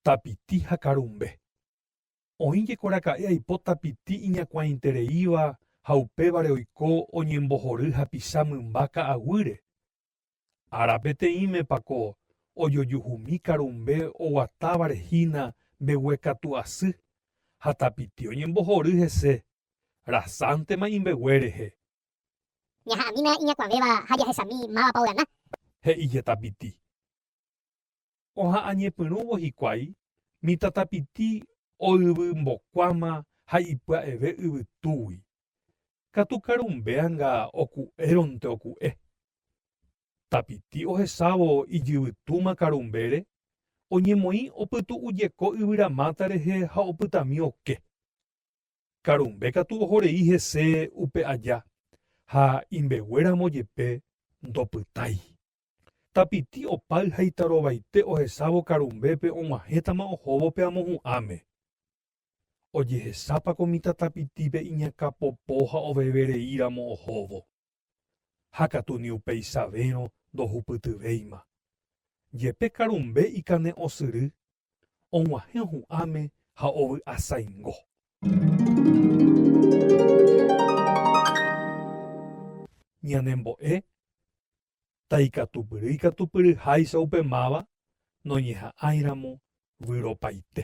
Tapiti ha karumbe. Oĩ jekoraka'e aipo tapiti iñakuãitereíva ha upévare oiko oñembohory hapicha mymba ka'aguýre, Ára peteĩmepa ko ojojuhumi karumbe oguatávare hína mbeguekatu asy ha tapiti oñembohory hese, rasántema imbegue rehe. Ñaha'ãmína iñakuãvéva ha jahechami mávapa ogana. He'íje tapiti. Oha'ãñepyrũvo hikuái, mitãtapiti oyvymbokuáma ha ipya'eve yvytúgui. Katu karumbeanga oku'éronte oku'e. Tapiti ohesávo ijyvytúma karumbére, oñemoĩ opytu'ujeko yvyramáta rehe ha opytami oke. Karumbe katu ohorei hese upe aja ha imbeguéramo jepe ndopytái. Tapiti opáy ha itarovaite ohesávo karumbépe og̃uahẽtama ohóvo pe amohu'ãme. Ojehesápa ko mitã tapitípe iñakãpopo ha ovevereíramo ohóvo. Ha katu ni upeisavérõ ndohupytyvéima. Jepe karumbe ikane'õsyry, og̃uahẽ ohu'ãme ha ovy'asaingo. Ñanembo'e ta ikatupyry ikatupyry háicha upe máva noñeha'ãiramo vyropaite.